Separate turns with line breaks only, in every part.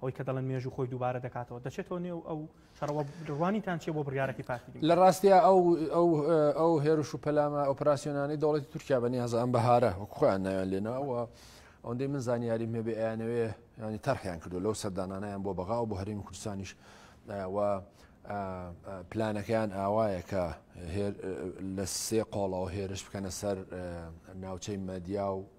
ئەوەی کە دەڵێن مێژوو خۆی دووبارە دەکاتەوە دەچێتەوە نێو ئەو شەڕەوە ڕوانیتان چیە بۆ بڕیارەکەی پارتی دیموکرات؟ لە ڕاستیا ئەو
ئەو ئەو هێرش و پەلامە ئۆپراسیۆنانەی دەوڵەتی تورکیا بە نیازە ئەم بەهارە وەک خۆیان ناویان لێناوە ئەوەندەی من زانیاریم هەبێ ئەیانەوێ ینی تەرحیان کردو لەو سەردانانیان بۆ بەغا و بۆ هەرێمی کوردستانیش و پلانەکەیان ئاوایە کە لە سێ قۆڵەوە هێرش بکەنە سەر ناوچەی مەدیا و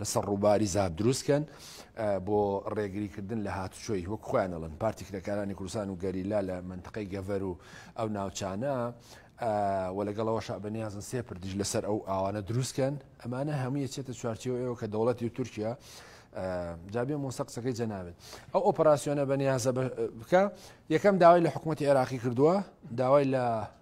لەسەر ڕووباری زاپ دروست کەن بۆ ڕێگری کردن لە هاتوچۆی وەک خۆیان ئەڵن پارتی کرێکارانی کوردستان و گەریلا لە منتقەی گەڤەر و ئەو ناوچانە و لەگەڵەوە شابنیازن سێ پردیش لەسەر ئەو ئاوانە دروستکەن ئەمانە هەمووی چێتە چوارچەوە ئێوە کە دەوڵەتی و تورکیا جابێ مۆسە قسەکەی جەناوێت ئەو ئۆپەراسسیۆنە بەنیازە بکە یەکەم داوای لە حکوومەتتی عێراقی کردووە داوای لە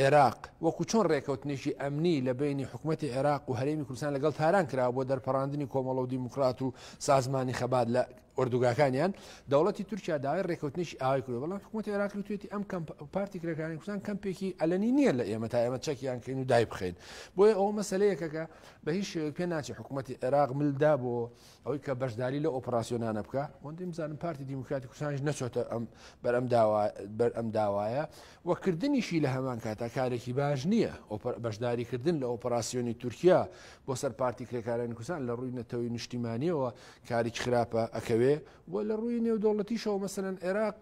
عێراق، وەکو چۆن رێککەوتنێکی ئەمنی لە بەینی حکومەتی عێراق و هەرێمی کوردستان لەگەڵ تاران کراوە بۆ دەرپەڕاندنی کۆمەڵە و دیموکرات و سازمانی خەبات لە ئۆردوگاکانیان، دەوڵەتی تورکیا داوای رێککەوتنێکی ئاوای کردوە، بەڵام حکومەتی عێراقی وتویەتی ئەم کەمپە و پارتی کرێکارانی کوردستان کەمپێکی ئەلەنی نیە لە ئێمە تا ئێمە چەکیان کەین و دایبخەین، بۆیە ئەوە مەسەلەیەکە کە بە هیچ شێوەیەک پێناچێت حکومەتی عێراق مل دا بۆ ئەوەی کە بەشداری لە ئۆپراسسیۆنانە بکە وەندیم زانم پارتی دیموکراتی کوردستانیش نەچۆتە ئەم بەر ئەم بەر ئەم داوایە وەکردنیشی لە هەمان کاتا کارێکی باش نییە بەشداریکردن لە ئۆپراسسیۆنی تورکیا بۆ سەر پارتی کرێکارانی کوردستان لە ڕووی نەتەوەی نیشتیمانیەوە کاریک خراپە ئەکەوێ و لە ڕووی نێودەوڵەتیشەوە مەسەن عێراق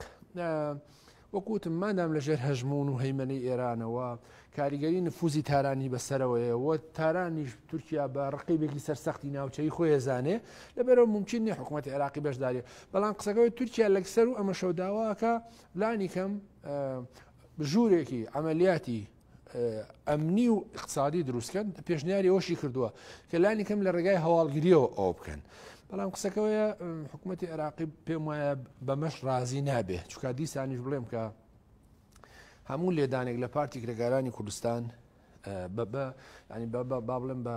وەک وتم مادام لە ژێر هەژموون و هەیمەنەی ئێرانەوە، کاریگەری نفوزی تارانی بە سەرەوەیە و تارانیش تورکیا بە ڕقیبێکی سەرسەختی ناوچەیی خۆی ئەزانێ، لەبەرئەوە مومکین نیە حکومەتی عێراقی بەشداریە. بەڵام قسەکە ئەوەی تورکیا لەکسەر و ئەمەشەو داواکە لانی کەم ژوورێکی عەمەلیاتی ئەمنی و اقتصادی دروستکەن پێشنیاری ئەوشی کردووە کە لانی کەم لە ڕێگای هەواڵگریەوە ئەو بکەن بەڵام قسەکەوەیە حکوومەتتی عراقی پێم وایە بەمەش رازی نابێ چکا دیسانیش بڵێم کە هەموو لێدانێک لە پارتی کرێگارانی کوردستان بە بە ینی بە بابلم بە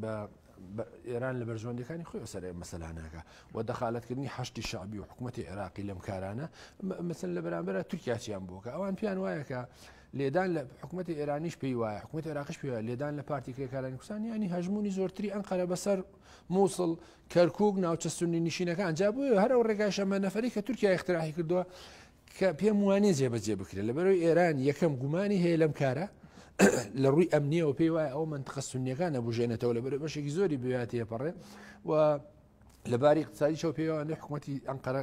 بە ئێران لە بەرژەوەندیەکانی خۆی سەر ئەم مەسەلانەکە و دەخالەتکردنی حشتی شعبی و حکوومەتتی عێراقی لەم کارانە مەسن لە بەرامبەرە تورکیاچیان بووکە ئەوان پێیان وایەکە لێدان لە حکوومەتتی ئێرانیش پێی وایە حکوومەت عێراقش پێ لێدان لە پارتی کرێکارانی کوردستان ینی هەژمونی زۆرتری ئەم قەرە بەسەر مووسڵ کەرکک ناوچە سنی نشینەکان جا بووە هەرو ڕێگای شەمە نەفری کە تورکیا اختراحی کردووە کە پێم وانێ جێبەجێ بکرێت لەبەرەوەی ئێران یەکەم گومانی هەیە لەم کارە لە ڕووی ئەمنیەوە پێی وایە ئەو منتقە سنیەکان نەبژێنێتەوە لە بەرە بەشێکی زۆری بواتەیە پەڕێ و لەباری قساری چاو پێوانێ حکوومەتتی ئەنقەرە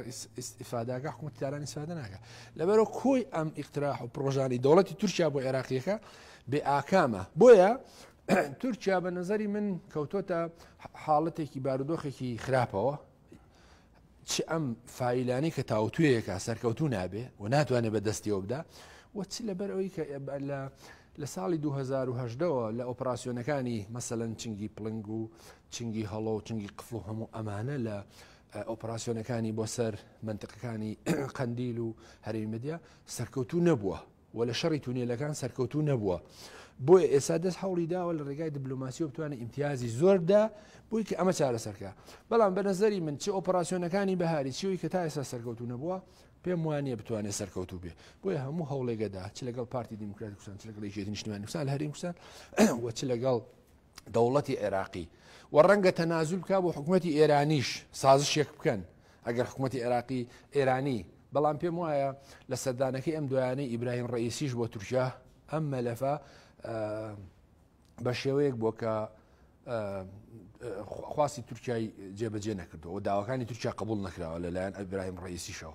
ئیفاداگە حکوومەتتی تاران ئیسفادە ناکە لەبەرە کۆی ئەم ئیقتراح و پرۆژانی دەوڵەتی تورکیا بۆ عێراقیەکە بێ ئاکامە بۆیە تورکیا بە نظری من کەوتۆتە حاڵەتێکی بارودۆخێکی خراپەوە چ ئەم فیلانەی کە تاوتوێیەکە سەرکەوتو نابێ و ناتوانێت بە دەستیەوە بدا و چ لەبەر ئەوی کە لە لە ساڵی 2010ەوە لە ئۆپراسسیۆنەکانی مەسەەن چنگی پلنگ و چنگی هەڵۆ و چنگی قفڵ و هەموو ئەمانە لە ئۆپراسسیۆنەکانی بۆ سەر منتقەکانی قندیل و هەرێمەدیا سەرکەوتو نەبووە و لە شەڕی تونێلەکان سەرکەوتوو نەبووە بۆیە ئێستا دەست هەوڵی داوە لە ڕێگای دبلۆماسیەوە بتوانێت ئیمتیازی زۆر بدا بۆی کە ئەمە چارەسەرکە بەڵام بە نەزەری من چی ئۆپەراسسیۆنەکانی بەهاری چیەوەی کە تا ئێستا سەرکەوتو نەبووە پێم وانە بتوانێت سەرکەوتو بێ بۆیە هەموو هەوڵێگەدا چ لەگەڵ پارتی دیموکراتی کوسان چ لەگەڵ یەکێتی نیشتمانی کوسان هەرین کوسان و چ لەگەڵ دەوڵەتی عێراقی و ڕەنگە تەنازول بکە بۆ حکوومەتتی ئێرانیش سازشێک بکەن ئەگەر حکوومەتتی عێراقی ئێرانی بەڵام پێم وایە لە سەردانەکەی ئەم دویانەی ئیبراهیم ڕئیسیش بۆ تورکیا ئەم مەلەفە بە شێوەیەک بۆ کە خواستی تورکای جێبەجێ نەکردەوە داواکانی تورکیا قبول نکراوە لەلایەن ئەبراهیم ڕئیسیشەوە